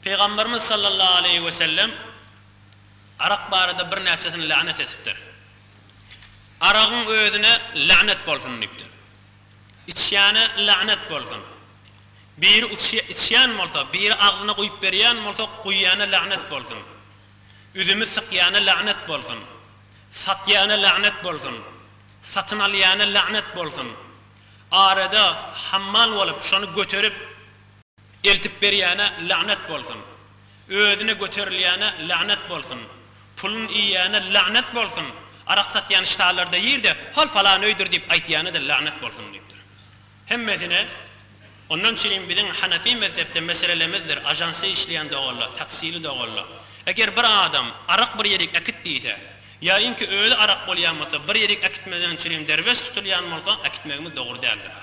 Pygamberimiz sallallahu aleýhi we sellem arak barada birnäçesini länet etipdir. Aragyň özüne länet bolsun diýipdir. Içýäne länet bolsun. Biri içýän bolsa, biri agzyna guýup berýän bolsa guýýana länet bolsun. Üzümi sykýana länet bolsun. Satýana länet bolsun. Satyn alýana länet bolsun. Arada hammal bolup şony göterip. Eltip berýäne lagnet bolsun. Özüne göterilýäne lagnet bolsun. Pulun iýýäne lagnet bolsun. Arak satýan ştallarda ýyr-de, hol falan öýdür diýip aýtýana-da lagnet bolsun diýipdir. Hemmesine Ondan çilim biziň Hanefi mezhepde meselelemizdir, ažansda işleýän doganlar, taksili doganlar. Eger bir adam arak bir ýerik äkit diýse, ýa inki özi arak bolýan bolsa, bir ýerik äkitmezden çilim derweş tutulýan bolsa, äkitmegimiz dogry däldir-a.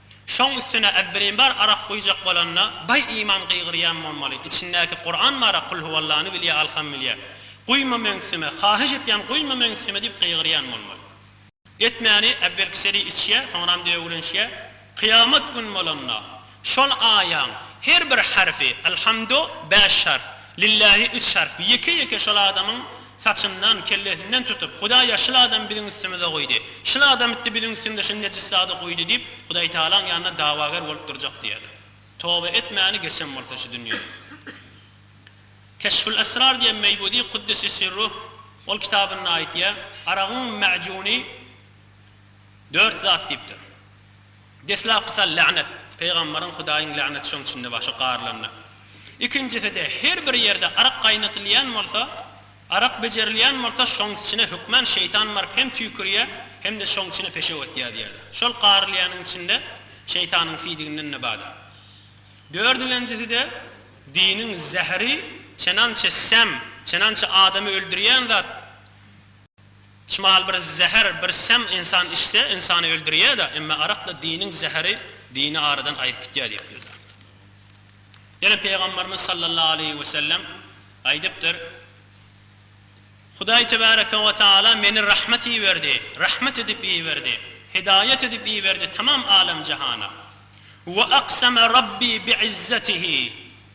Şoň üstüne Äbdülinbar arak guýjak bolanda, Baý iman gygyrýan bolmaly, içindäki Kuran bara Kul huwallany bilýä alham bilýä. Guýma meňsime, haýyş etýän guýma meňsime diýip gygyrýan bolmaly. Etmäni äwelkiseli içýä, soňram döwülinşýä. Kyýamat gün bolanda, şol aýaň her bir harfi, Alhamdo, bäş harf, Lillähi üç harf, ýeke-ýeke şol adamyň Saçyndan, kellesinden tutup, Hudaý ýa şul adamy biziň üstümize goýdy, şul adam itdi biziň üstümize şuny nejis zady guýdy diýip, Hudaýtagalaň ýanynda dawager bolup durjak diýýärler. Toba etmäni geçen bolsa şu dünýeden. Keşful Esrar diýen Meýbudi Kuddisi Sirruh ol kitabynda aýtýar, Aragyň mäjuny dört zat diýipdir. Deslapky sal lagnet, pygamberiň Hudaýyň lagneti şoň içinde bar, şo garylanda. Ikinjiside her bir ýerde arak gaýnatylýan bolsa, arak bejerilýän bolsa şoň içine hökman şeýtan baryp hem tüýkürýär, hem-de şoň içine peşew atýar diýerler. Şol garylýanyň içinde şeýtanyň siýdiginden-de bardyr. Dördügenjiside diniň zäheri çenançe säm, çenançe adamy öldürýän zat. Çmal bir zäher, bir säm ynsan içse, ynsany öldürýär-de, emma arak-da diniň zäheri, dini aradan aýryp gitýär diýip ýöne. Ýene Pygamberimiz sallallahu aleýhi we sellem aýdypdyr, Hudaý tebäreke we taala meni rahmet iberdi, rahmet edip iberdi, hidaýat edip iberdi tamam alem-jahana. We akseme Rabbi bi izzetihi,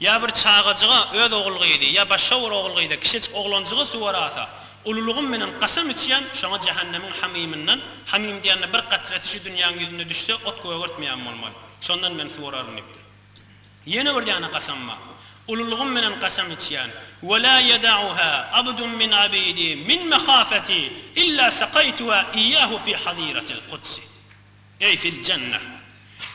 Ýa bir çagajyga öz ogul gyzy, ýa başga bir ogul gyza, kişejik oglanjyga suwar asa, ululygym bilen kasam içýän, şoňa jähennemiň hamymyndan, hamym diýende bir gatresi şu dünýäň ýüzünde düşse, ot gögertmeýän bolmaly. Şondan men suwararyn diýipdir. Ýene bir däne kasam bar. Ululygym bilen kasam içýän, Ve la yeda'uha abdun min abidi min mehafeti illa sakaituha iyyahu fi haziratil kudsi. Eý fil jennah!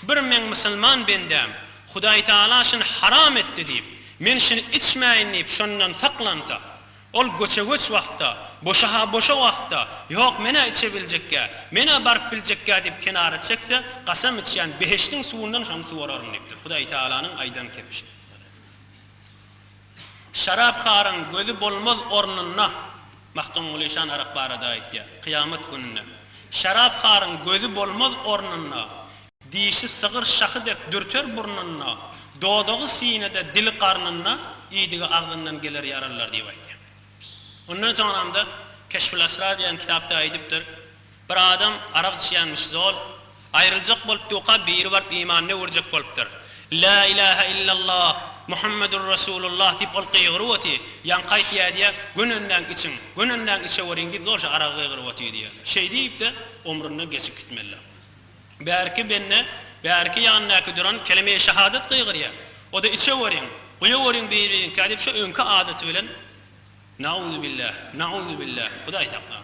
Bir meň musulman bendäm Hudaý Tagala şuny haram etdi diýip, men şuny içmäýin diýip şondan saklansa, ol göçe-göç wagtda, boşa-ha boşa wagtda, ýok men-ä içebiljekkä, men-ä baryp biljekkä diýip kenara çekse, kasam içýän behişdiň suwundan şony suwararyn diýipdir. Hudaý Tagalanyň aýdan kepişi. Şarapharyň gözi bolmaz ornunda, Magtymguly şan arak barada aýtýar, kyýamat gününde, Şarapharyň gözi bolmaz ornunda, Dişi sygyr şahy dek dürter burnunda, Dodagy sinede, dili garnynda, Idigi agzyndan geler ýaralylar diýip aýtýar. Ondan soňramda Keşful-Asrar diýen kitapda aýdypdyr. Bir adam arak içýänmiş zol, aýryljak bolup duka biri baryp imanyny öwürjek bolupdyr. La ilahe illallah Muhammedur Rasulullah diýip ol gygyryp oty, ýaňky aýtýa diýä, gönenläň içiň, gönenläň içeweriň diýip zol şo aragy gygyryp oty diýä. Şeý diýipde omrundan geçip gitmelidä. Bärki bende bärki ýanyndaky duran kelemeýi şahadat gygyrýa, oda içeweriň, guýaweriň biriňkä diýip şo öňki adaty bilen Nauzubillah, nauzubillah, Hudaý saklasyn.